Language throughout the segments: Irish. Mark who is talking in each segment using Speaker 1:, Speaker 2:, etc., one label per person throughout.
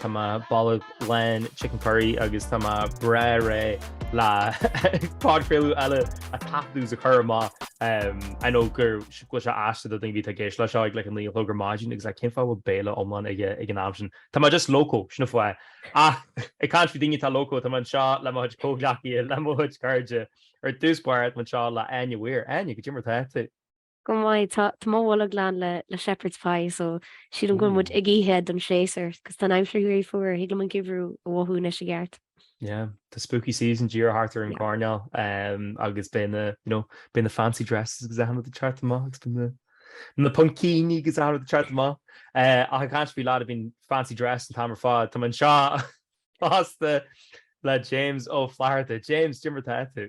Speaker 1: Tá mé bolg lán chicken curry agus tá mé breá réidh le podchraoladh eile a taifeadadh is a chur amach. I know go bhfuil sé aisteach do dhaoine bheith ag éisteacht leis seo ag like a naoi a chlog ar maidin agus like cén fáth bhfuil béile iomlán aige ag an am sin. Tá mé just loco sin fáth é. Ach ag caint faoi daoine atá loco tá mé anseo le mo chuid comhghleacaithe le mo chuid cairde. Ar dtús báire tá mé anseo le Áine Weir. Áine, cad é mar atá tú? Go maith, tá mo bholg lán le Shepherd's Pie so sílim go bhfuil muid ag ithe don séasúr agus tá an aimsir ag éirí fuar, thig liom an geimhreadh a mhothú anois i gceart. Yeah, tá spooky season díreach thart ar an gcoirnéal agus beidh na, you know, beidh na fancy dresses agus achan rud thart amach agus beidh na na puimcíní agus achan rud thart amach ach ag caint faoi lad a bhíonn i fancy dress an t-am ar fad, tá mé anseo fosta le James Ó Flatharta. James, cad é mar atá tú?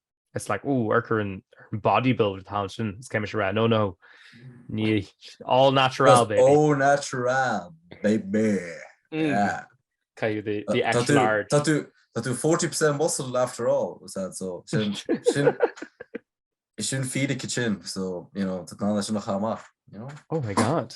Speaker 1: it's like oh ar chuir an bodybuilder talent sin is céimis a rá no no ní all natural baby all natural baby mm. yeah kind of the, the extra large that do that do 40% muscle after all was that so sin sin sin feed a kitchen so you know tá ná sin a chamach you know oh my god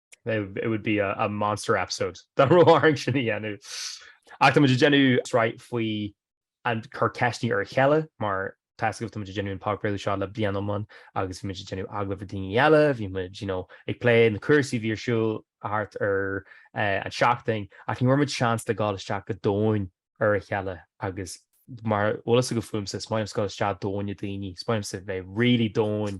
Speaker 1: It would be a monster episode dá raibh orainn sin a dhéanamh. Ach táimid ag déanamh sraith faoi ag cur ceisteanna ar a chéile, mar tá a fhios agaibh, táimid ag déanamh an podchraoladh seo le bliain iomlán agus bhí muid ag déanamh agallaimh le daoine eile, bhí muid, you know, ag plé na cúrsaí a bhí ar siúl thart ar an seachtain ach ní bhfuair muid seans le dhul isteach go domhain ar a chéile agus mar is eol daoibh fúmsa, is maith liomsa gabháil isteach domhain le daoine, is maith liomsa bheith really domhain.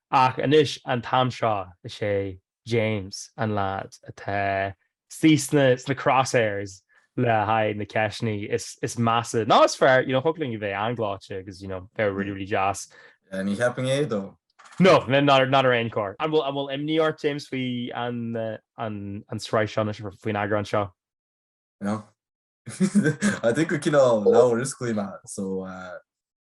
Speaker 1: Ach anois an t-am seo, is é James an leaid atá istigh sna crosshairs le haghaidh na ceisteanna is measa. Nó is fearr, you know, thig linn a bheith an-ghleoite agus, you know, bheith really, really deas. Ní theipfinn é dó. No, not ar aon chor. An bhfuil imní ort, James, faoi an sraith seo anois, faoin eagrán seo? No. I think go cineál leabhar is cuí mé, so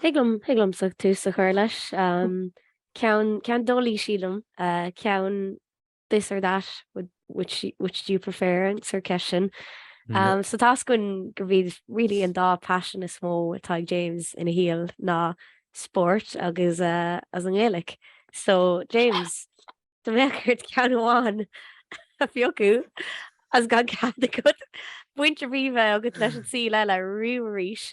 Speaker 1: Thig liom, thig liomsa tús a chur leis. Ceann, ceann deas éasca sílim, ceann this or that, would, which, which do you prefer an sórt ceist sin. So tá a fhios againn gurb é really an dá passion is mó atá ag James ina shaol ná spórt agus as an nGaelic. So James, dá mbeadh ort ceann amháin a phiocadh as gan cead agat baint a bheith agat leis an cheann eile riamh arís,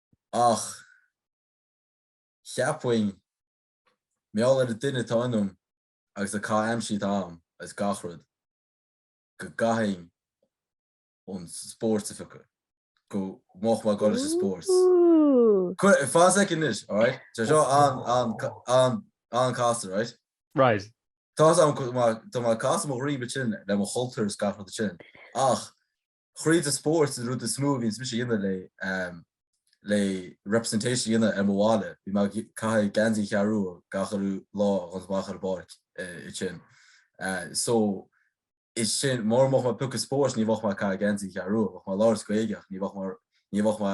Speaker 1: ach cheapfainn, mar gheall ar an duine atá ionam agus na caithimh aimsire atá agam agus gach rud, go gcaithfinn an spórt a phiocadh, go mbeadh mé ag dul leis an spórt. Cuir, fan soicind anois, alright? Tá seo an, an, an, an casta, right? Right. Tá seo, tá mé ag casadh mo dhroim ansin le mo chultúr is gach rud sin, ach Tríd an spórt an rud is mó a bhíonns mise a dhéanamh le le representation a dhéanamh ar mo bhaile. Bhí mé ag caitheamh geansaí An Cheathrú Rua gach lá agus amuigh ar an bpáirc ansin. So is sin mura mbeadh mé ag piocadh spóirt ní bheadh mé ag caitheamh geansaí An Cheathrú Rua. Bheadh mé ag labhairt Gaeilge ach ní bheadh mé ní bheadh mé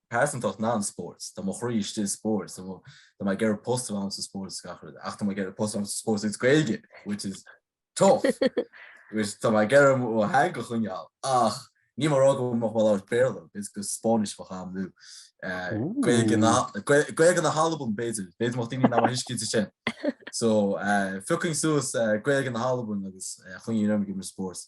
Speaker 1: pearsantacht nam spóirt, tá mo chroí istigh i spóirt, tá mo, tá mé ag iarraidh post a bheith ann sa spóirt is gach rud, ach tá mé ag iarraidh post a bheith ann sa spóirt agus Gaeilge, which is tough. Which tá mé ag iarraidh mo theanga a choinneáil, ach ní mór a rá go bhfuil mé ag labhairt Béarla, is go Spáinnis mo cham nó eh, Gaeilge na, Ooh. Gae- Gaeilge na hAlban, b'fhéidir, b'fhéidir mo daoine ná mar thuiscint is sin. So, eh, phiocfainn suas eh, Gaeilge na hAlban agus eh, choinneoinn orm ag imirt spóirt.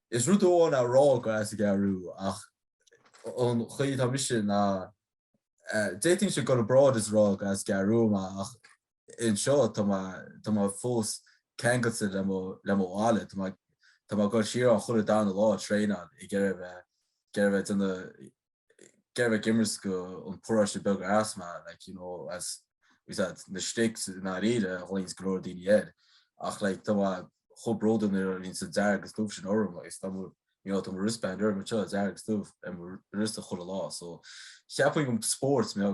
Speaker 1: Is rud amháin a rá gur as an gCeathrú Rua ach an chaoi atá mise ná d'fhéadfainnse go leor bróid is a rá gur as an gCeathrú Rua mé ach anseo tá mé tá mé fós ceangailte le mo le mo bhaile tá mé tá mé ag dul siar chuile darna lá ag traenáil ag iarraidh a bheith ag iarraidh a bheith de na Ag iarraidh a bheith ag imirt don paróiste beag ar as mé like you know as we said na sticks i ndáiríre a ghlaonns go leor daoine air ach like tá mé chomh bródúil as an dearg is dubh sin orm agus tá mo you know tá mo wristband orm anseo dearg is dubh ar mo wrist chuile lá so ceapaim go spóirt mé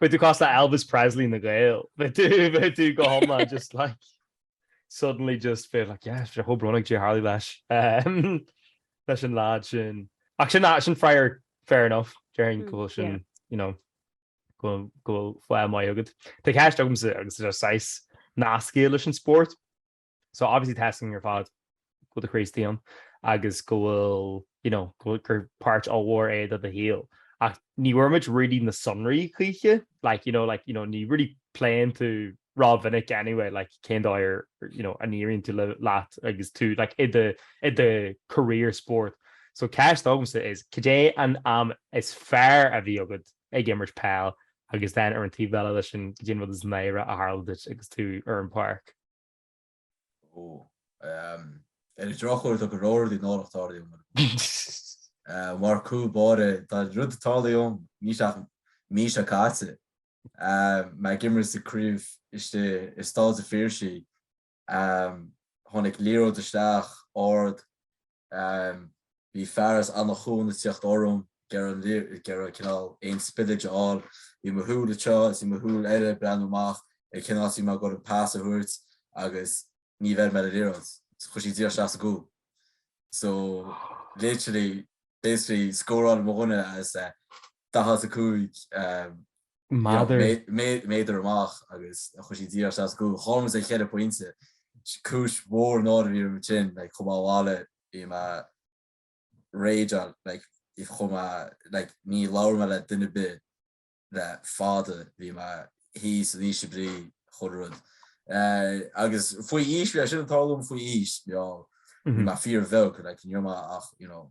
Speaker 1: Beidh tú cosúil le Elvis Presley na nGael. Beidh tú, beidh tú go hiomlán just like, suddenly just bheith like, yeah, bheith chomh brónach Jay Harley leis, leis an lead sin. Ach sin, sin freagra, fair enough, déarfainn go bhfuil sin, yeah, you know, go bhfuil fáth maith agat. Tá ceist agamsa atá saghas nasctha leis an spórt. So obviously tá a fhios againn ar fad go bhfuil do chroí istigh ann agus go bhfuil, you know, go bhfuil gur páirt ollmhór é do do shaol. Ach ní bhfuair muid really na sonraí choíche, like, you know, like, you know, ní really pléann tú rómhinic anyway, like, cén dóigh ar, you know, a n-éiríonn tú le, leat agus tú, like, i do, i do career spórt. So ceist agamsa is, cad é an am is fearr a bhí agat ag imirt peil agus then ar an taobh eile leis sin, cad é an rud is náire a tharla duit agus tú ar an bpáirc? Ar an drochuair tá go leor rudaí náireach tarlaithe liom ar an bpáirc. Mar cúl báire tá rud tarlaithe liom níl sé ach mí seo caite. Bhí mé ag imirt sa gcraobh istigh i Staid an Phiarsaigh tháinig liathróid isteach ard Bhí fear as Anach Cuain ag tíocht orm, ag iarraidh cineál aon spillage a fháil. Bhí mo shúil anseo is bhí mo shúil eile ag breathnú amach ar cén áit a bhí mé ag goil an pass a thabhairt agus níor bheir mé ar an liathróid. Chuaigh sí díreach isteach sa gcúl. So literally, basically scóráil mo dhuine as 45 um, méadar amach agus chuaigh sí díreach isteach sa gcúl, chaill muid le cheithre phointe. Cúis mhór náire a bhí orm ansin, like, chuaigh mé abhaile, bhí mé raging, like, chuaigh mé abhaile, like, níor labhair mé le duine ar bith le fada, bhí mé thíos in ísle brí, chuile rud. Eh, agus faoi aois, bhí sé sin ag tarlú liom faoi aois, you know, bhí mé fíor-bheag, like, ní raibh mé ach, you know,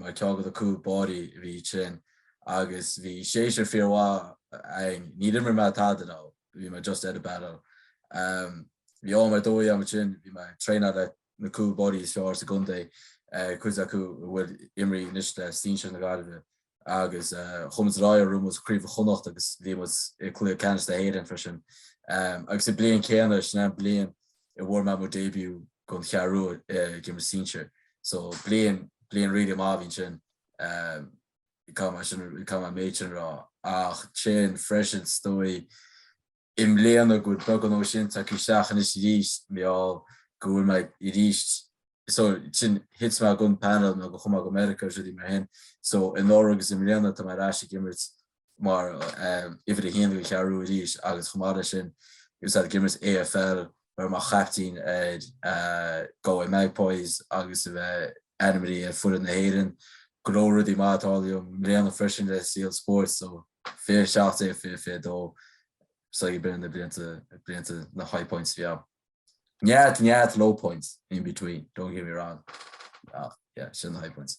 Speaker 1: mar ceann de na cúl báirí a bhí thíos ann agus bhí seisear fíormhaith againn. Níor imir mé tada ann, bhí mé just ar an bpanel. Bhí am ar dóigh agam ansin, bhí mé ag traenáil le na cúl báirí is fearr sa gcontae, cuid acu a bhfuil ag imirt anois le sinsir na Gaillimhe. agus chuaigh muid ar aghaidh, bhuaigh muid Craobh Chonnacht agus bhí muid i gcluiche ceannais na hÉireann freisin agus sa bhliain chéanna, sin an bliain a bhfuair mé mo début don Cheathrú Rua ag imirt sinsir, so bliain, bliain really maith a bhí ansin, caithfidh mé sin, caithfidh mé an méid sin a rá ach sin freisin is dóigh, I mbliana, go bhfuil beagán de sin tagtha isteach anois arís, mar gheall go bhfuil mé ar ais, so sin thit mé den panel nuair a chuaigh mé go Meiriceá agus rudaí mar sin, so anuraidh agus i mbliana tá mé ar ais ag imirt mar uimhir a haon don Cheathrú arís agus chomh maith leis sin thosaigh ag imirt AFL a bheith mar chaiptín ar Galway Magpies agus a bheith ainmnithe ar foireann na hÉireann, go leor rudaí maithe ag tarlú i mbliana freisin le saol spóirt so 2017 2022 so b'in na blianta blianta na high points a bhí agam. Neart neart low points in between, don't get me wrong. Ach, yeah, sin na high points.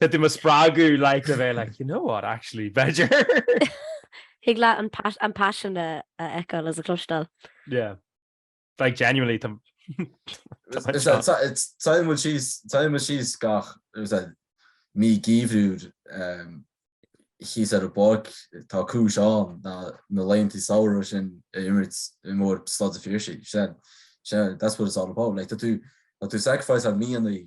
Speaker 1: Tá tú do mo spreagadh like a bheith like, you know what, actually, b'fhéidir. Thig leat an pas- an passion a a fheiceáil is a chloisteáil. Yeah. Like, genuinely, tá... Táimid síos, táimid síos gach mí geimhridh thíos ar an bpáirc, tá cúis ann na na laethanta samhraidh sin a imirt i Staid an Phiarsaigh, sin, sin, that's what it's all about, like, tá tú, tá tú sacrifice an mí Eanáir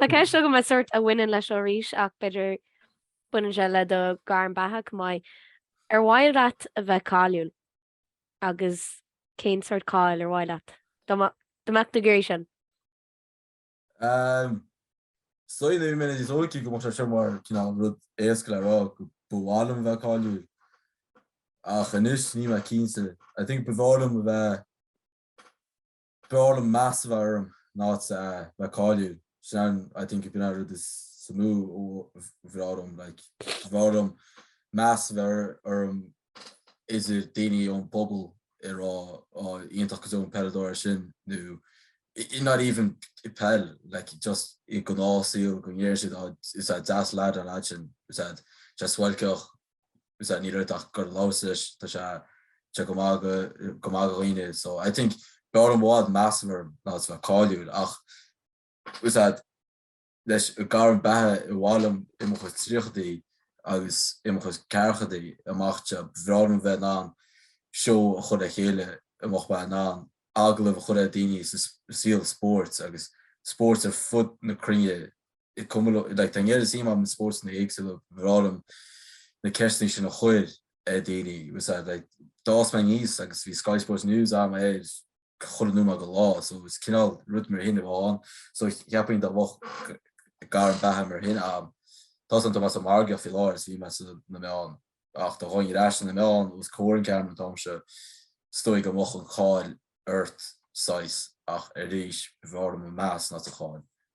Speaker 1: Tá ceist agam a sort a bhaineann leis seo arís ach b'fhéidir baineann sé le do ghairm bheatha chomh maith. Ar mhaith leat a bheith cáiliúil agus cén sort cáil ar mhaith leat? Dá mbeadh tú ag iarraidh sin? Smaoinigh mé níos óige go mbeadh sé seo mar cineál rud éasca le rá go ba mhaith liom a bheith cáiliúil ach anois níl mé cinnte. I think ba mhaith liom a bheith b'fhearr liom meas a bheith orm ná a bheith cáiliúil. Sin I think b'in an rud is mó ba mhaith liom. Like ba bhreá liom meas a bheith orm idir daoine ón bpobal a rá á iontach go deo an peileadóir é sin nó not even i peil like just i gnáth saol go ndéarfadh siad á is deas an lad an lad sin tá sé deas suáilceach sea, ní raibh ach gur labhairt leis, tá sé go maith do dhaoine so I think b'fhearr liom a bheadh meas orm ná a bheith cáiliúil ach ó thaobh leis an ghairm beatha i bhfad uaim i mo chuid tríochaidí agus i mo chuid ceathrachaidí amach so b'fhearr liom bheith in ann seó a chur le chéile ina mbeinn in ann agallamh a chur ar dhaoine sa saol spóirt agus spóirt ar fud na cruinne i gcomhluadar like tá a fhios agat is iomaí spórtanna éagsúla mar b'fhearr liom na ceisteanna sin a chuir ar dhaoine was that like d'fhás mé aníos agus bhí Sky Sports News againn air chuile nóiméad de lá so is cineál rud mar sin a bheadh ann so cheapfainn dá mbeadh gairm beatha mar sin ann tá san tá mé sa margadh faoi láthair is bhí mé sa na mbeadh ann ach do dhaoine ar ais san na mbeadh ann agus cóir an ceann an t-am seo stoigh go mbeadh an cháil ort saghas ach arís b'fhearr liom an meas ná an cháil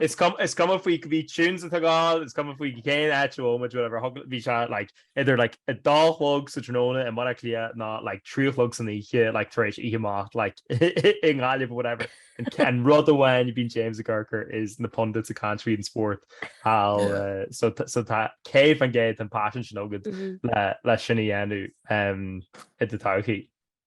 Speaker 1: Is cuma faoi cá bhfuil tú sa teach tógáil, is cuma faoi cén áit a bhfuil muid, whatever, bhí sé idir a dó a chlog sa tráthnóna i mBaile Átha Cliath ná trí a chlog san oíche tar éis oíche amach i nGaillimh, whatever. An rud amháin a bhíonn James ag gearán faoi is na pundits ag caint faoi an spórt also tá sé go hiontach an paisean sin agat le sin a dhéanamh i do todhchaí.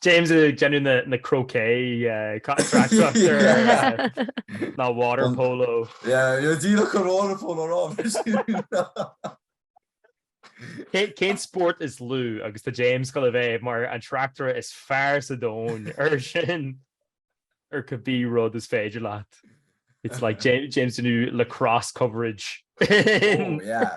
Speaker 1: James ag déanamh an croquet ná water polo. Díreach an water polo rá. Cén spórt is lú agus tá James ag goil a bheith mar an tráchtaire is fearr sa domhain ar sin ar cibé rud is féidir leat. It's like James James ag déanamh lacrosse coverage. oh, yeah.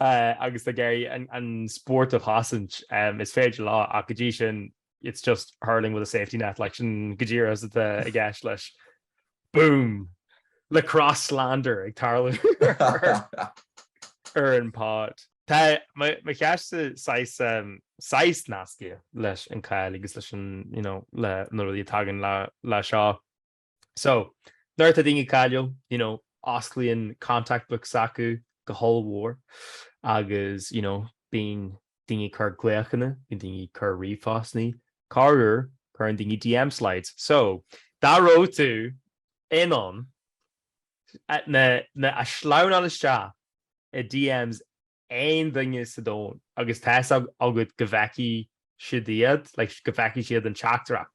Speaker 1: agus tá ag iarraidh an spórt a chosaint um is féidir leo ach go dtí sin it's just hurling with a safety net like sin go díreach atá i gceist leis boom lacrosse slander ag tarlú ar an pod. Tá mo cheist um, saghas nasctha leis an cáil agus leis an rudaí a thagann leis so So, nuair atá daoine cáiliúil, you know, osclaíonn contact books s'acu go hollmhór agus, you know, bíonn daoine ag cur glaochanna, bíonn daoine ag cur ríomhphostanna, corruair cuireann daoine DM slides. So, dá raibh tú in ann a, a shleamhnáil isteach i DMs aon duine sa domhan agus tá a fhios agat go bhfeicfidh siad iad, like, go bhfeicfidh siad an teachtaireacht,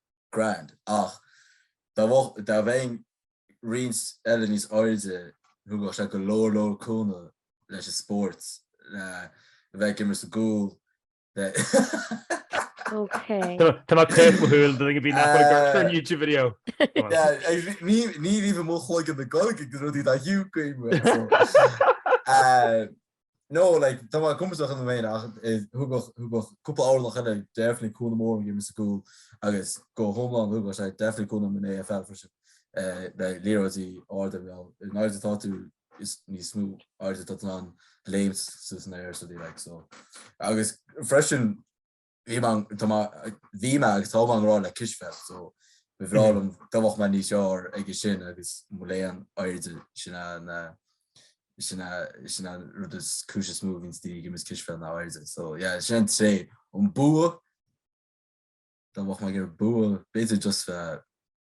Speaker 1: grand, ach dá bheinn roinnt eile níos airde, thugadh sé go leor leor cúnamh leis an spórt, le bheith ag imirt sa gcúl, le. Ok. Tá mé taobh mo shúil do dhaoine nach bhfuil ag amharc ar an YouTube video. Ní raibh i mo chloigeann na Gaeilge ag na rudaí dá hiúcaim. No like tá mé compordach an bhéin ach thugadh thugadh cúpla orlach eile definitely cúnamh mór ag imirt sa gcúl agus go hiomlán thugadh sé definitely cúnamh san AFL freisin eh, le liathróidí arda mar gheall in airde tá tú is níos mó airde tá tú in ann léim suas san aer so like so agus freisin Bhí mé an, tá mé, bhí mé agus tá mé i ngrá le cispheil, so ba bhreá liom dá bheadh mé níos fearr aige sin agus mo léan airde sin a na, sin a, sin a rud is cúis is mó a bhíonns daoine ag imirt cispheil ná airde. So yeah, sin an tréith. An bua, dá bheadh mé ag iarraidh bua, b'fhéidir just, uh,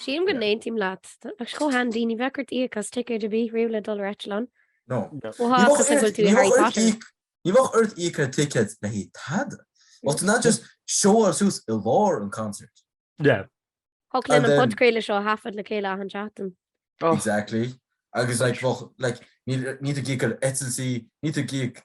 Speaker 1: Sílim go n-aontaím leat. Tá sé chomh handy, ní bheadh ort íoc as ticéad ar bith riamh le dul ar eitleán. No. Ó ha, cosúil go bhfuil tú i Harry Potter. Ní bheadh ort íoc ar ticéad le haghaidh tada. Well, tá tú in ann just showáil suas i lár an concert. Yeah. Thiocfadh linn an podchraoladh seo a thaifead le chéile achan seachtain. Exactly. Agus like, bheadh like, níl, níl tú ag íoc ar eitiltí, níl ag íoc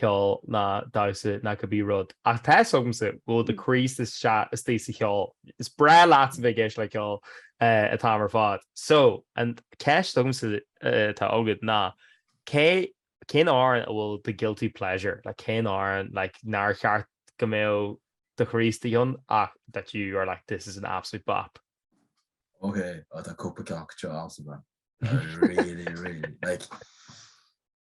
Speaker 1: ceol ná damhsa ná cibé rud. Ach tá a fhios agamsa go bhfuil do chroí istigh sa cheol. Is breá leat a bheith ag éisteacht le ceol an t-am ar fad. So, an cheist agamsa atá agat ná, cé cén amhrán a bhfuil do guilty pleasure le? Cén amhrán like nár cheart go mbeadh do chroí istigh ann ach that you're like this is an absolute bop? Ok, tá cúpla ceann acu seo ann to be fair. Really, really. Like,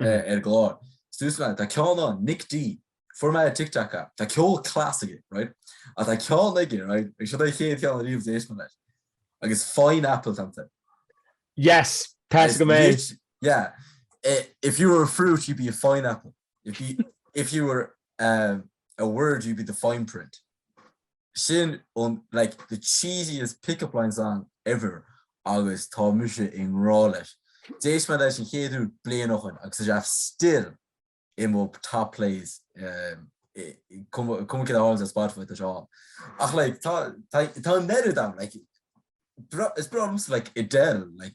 Speaker 1: ar an gclár. Suas leat, tá ceann ann, Nic D, fuair mé ar TikTok é, tá ceol class aige, right? Ach tá ceann aige, right? Agus sin é an chéad ceann ariamh a d'éist mé leis. Agus Fine Apple tamta. Yes, Tá go mé. Yeah. If you were a fruit, you'd be a fine apple. If you, if you were um, a word you'd be the fine print. Sin an, like, the cheesiest pick-up line song ever agus tá mise i ngrá leis. D'éist mé leis an chéad uair bliain ó shin agus tá sé still i mo top plays um, cuma cén áit Spotify tá sé ann. Ach like, tá, tá, tá an oiread ann, like, breá, is breá liom Adele, like,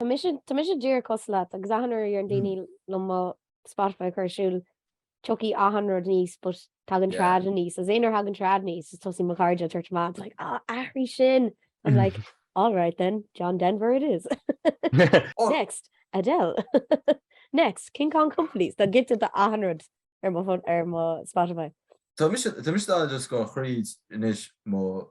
Speaker 1: Tá mise tá mise díreach cosúil leat agus achan uair a deireann daoine liom mo Spotify a chur ar siúl tiocfaidh achan rud aníos but tagann Yeah. trad aníos. Is aon uair a thagann trad aníos is tosaíonn mo chairde ag tabhairt amach it's like á athraigh sin. I'm like all right then John Denver it is. Oh. Next Adele. Next King Kong Company Tá giota de achan rud ar mo phone ar mo Spotify. Tá mise tá mise dá just ag gabháil thríd anois mo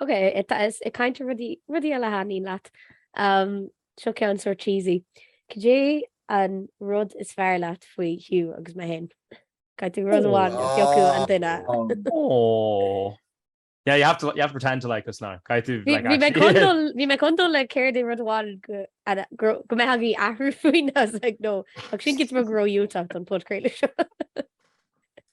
Speaker 1: Ok, tá muid ag caint ar rudaí, rudaí eile a thaitníonn leat. Umm, seo ceann sort cheesy. Cad é an rud is fearr leat faoi Hugh agus mé fhéin? Caithfidh tú rud amháin a phiocadh an duine. Aww. Yeah, you have to, you have to pretend to like us now. Caith tú, Bhí like, bhí mé actually. chun dul, bhí mé chun dul le céard é rud amháin go an- go raibh- go mbeadh agat athrú faoi, I was like, no, ach sin dúirt mé go raibh Hugh ag teacht don podchraoladh seo.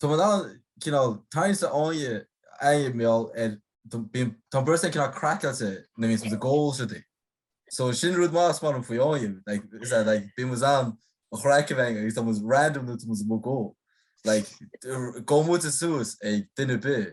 Speaker 1: Tá muid ann cineál tarraingteach sa fháinne aghaidh mar gheall ar bíonn tá an phearsa cineál craiceáilte nuair a bhíonns muid ag ól siad í. So sin rud maith is maith liom faoi fháinne like is ea like bíonn muid ann an chraic a bhaint agus tá muid random nuair tá muid ag ól like gabhann muid suas ag duine ar bith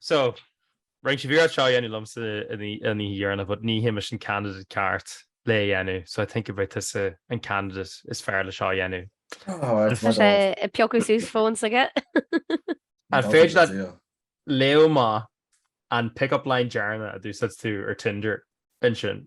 Speaker 1: So, rinne sé iarraidh seo a dhéanamh liomsa an oíche dheireanach but ní mise an candidate ceart lé a dhéanamh so I think gurb tusa an candidate is fearr le seo a dhéanamh. Tá sé ag piocadh suas fóin s'aige. An féidir leat léamh amach an pick-up line deireanach a d'úsáid tú ar Tinder ansin?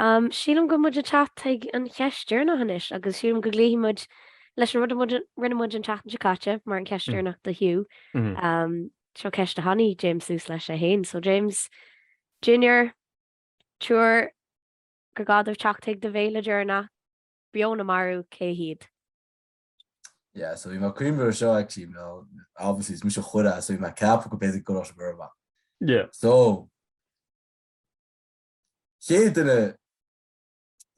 Speaker 1: Sílim go bhfuil muid ag teacht chuig an cheist deireanach anois agus sílim go gcloífidh muid leis an rud a rinne muid an tseachtain seo caite mar an ceist deireanach do Hugh. Seo ceist a tháinig James suas leis é fhéin, so James Junior triúr go gceadófá teacht chuig do bhéile deireanach beo nó marbh cé hiad? Yeah, so you know, cream or show actually, you know, obviously it's Misha Khura, so you know, cap could basically go off burma. Yeah. So chéad duine,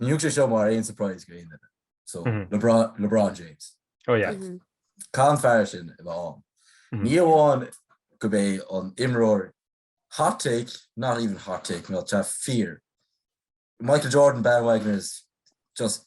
Speaker 1: ní thiocfaidh sé seo mar aon surprise go haon duine, so LeBron, LeBron James. Oh yeah. Mm-hmm. Caithfidh an fear sin i bheith ann. Mm-hmm. Ní amháin gurb é an imreoir hot take, not even hot take, tá sé fíor. Michael Jordan bandwagoners just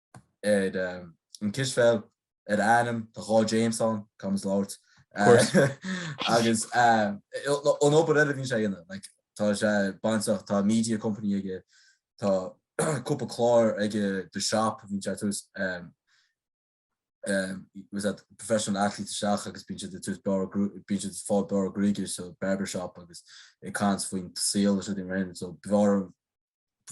Speaker 1: ar an cispheil ar a ainm tá dhá James ann, cam is labhairt. agus an obair eile bhíonn sé dhéanamh, like, tá sé bainteach, tá media company aige, tá cúpla clár aige The Shop bhíonn sé tabhairt um, um, was that professional athlete isteach agus bíonn sé tús beár bíonn sé fáil bearradh gruaige so barbershop agus ag caint faoin saol is dhéanamh so beár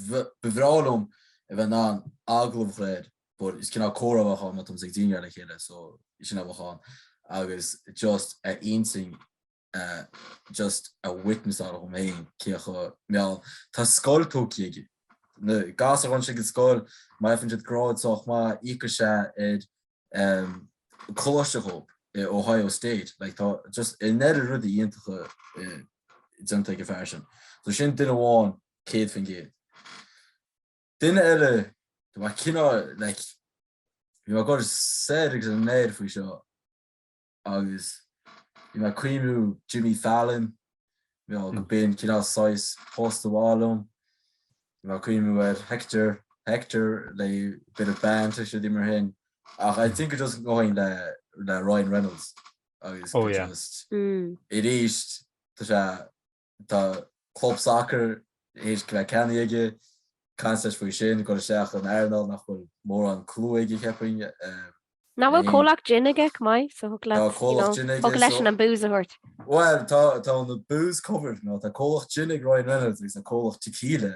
Speaker 1: Ba bhreá liom a bheith in ann agallamh a chur air but is cineál comhrá a bheadh ann má tá mise agus daoine eile le chéile so sin a bheadh ann agus just a intinn just a witness a dhom féin cé acu mar gheall tá scoil tógtha aige do ghasúir a théann siad go scoil má fhaigheann siad grád sách maith íocfaidh sé ar um, coláiste dhóibh i Ohio State like tá just an oiread rudaí iontacha déanta ag an bhfear sin so sin duine amháin 100%. Duine eile de bharr cineál like bhí mé ag cur said agus an leir faoi seo agus bhí mé ag cuimhniú Jimmy Fallon you know gurb in cineál saghas post ba mhaith liom bhí mé ag cuimhniú ar Hector Hector le bit of banter is rudaí mar sin ach I think it just going le le Ryan Reynolds agus oh, yeah. just mm. it is tá sé tá club sacair th'éis a bheith ceannaithe aige, caint leis faoi sin, ag goil isteach in earnáil nach bhfuil mórán clú aige cheap mé. Nach bhfuil comhlacht gin aige, Mike, so thig leat, you know, thig leis an booze a thabhairt. Bhuel, tá an booze covered, you know, tá comhlacht gin ag Ryan Reynolds agus tá comhlacht tequila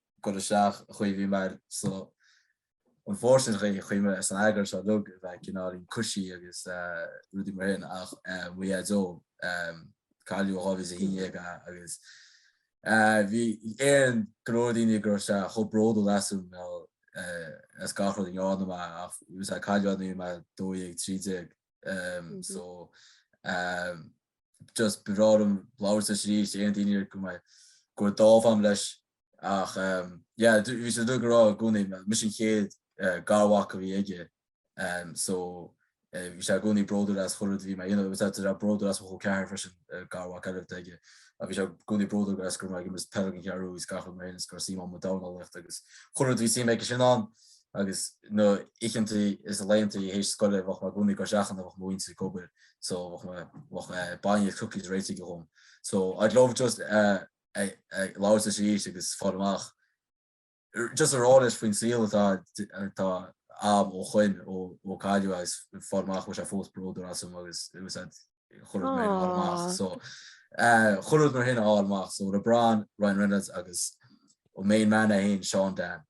Speaker 1: gcur isteach a chuimhní mar so unfortunately chaoi a chuimhne ar san eagar seo liug a bheith cineáilín coisí agus rudaí mar sin ach mo dhaideo cailleadh i 2011 a agus bíonn go leor daoine ag rá bheadh sé chomh bródúil asam nó as gach rud a dhéanann mé ach bhí sé cailleadh i 2012, 13. so just ba bhreá liom labhairt leis arís, aon daoine ar go mbeidh go bhfuil dáimh agam leis ach yeah, bhí sé dúil go rá i gcónaí, mise an chéad garmhac a bhí aige so bhí sé i gcónaí bródúil as chuile rud a bhí mé a dhéanamh, agus tá bródúil as mo chol ceathar freisin garmhac eile atá aige a bhí sé i gcónaí bródúil as go raibh mé ag imirt peil ag an gCeathrú Rua agus gach rud mar sin is go raibh suim agam i ndornálaíocht agus chuile rud a bhí suim aigesean ann agus na oícheantaí is na laethanta théis scoile bheadh mé i gcónaí ag goil isteach ann a bheadh mo mhuintir ag obair so bheadh bainne is cookies réidh aige dhom so I'd love just labhairt leis arís agus fáil amach just a rá leis faoin saol atá atá a'm ó shoin ó cailleadh agus fáil amach bhfuil sé fós bródúil asam agus it was at chuile rud mar sin a fháil amach so chuile rud mar sin a fháil amach so LeBron, Ryan Reynolds agus an main man é fhéin Seán Dan.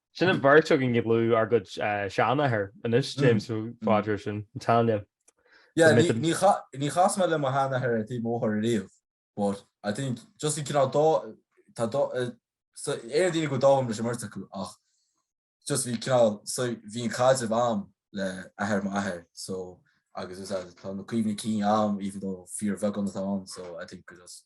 Speaker 1: Sin an bheirt againn ag lua ár gcuid seanathair anois, James, so fáilte roimh sin, an t-ainm. Níor chas mé le mo sheanathair ar thaobh mo mháthar ariamh but I think just i gcineál dá tá dá so aon daoine go bhfuil dáimh agam leis an mbeirt acu ach just bhí cineál so bhí an caidreamh a'm le athair m'athair so agus is tá na cuimhní cinn a'm even though fíorbheagán atá ann so I think just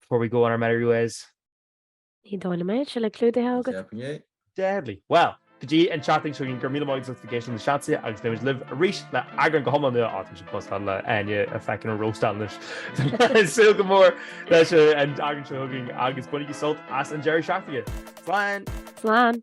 Speaker 1: Before we go on our merry ways. Ní dóigh liom é, tá sé clúdaithe agat. Deadly. Well, go dtí an tseachtain seo chugainn, go raibh míle maith agat agus go gcéill sibh na seansaithe agus beimid libh arís le eagrán go hiomlán nua. Á, tá sibh cosúil le Áine a feiceann an róstán anois. Beimid ag súil go mór leis an eagrán seo chugainn agus bainigí sult as an deireadh seachtaine. Slán! Slán!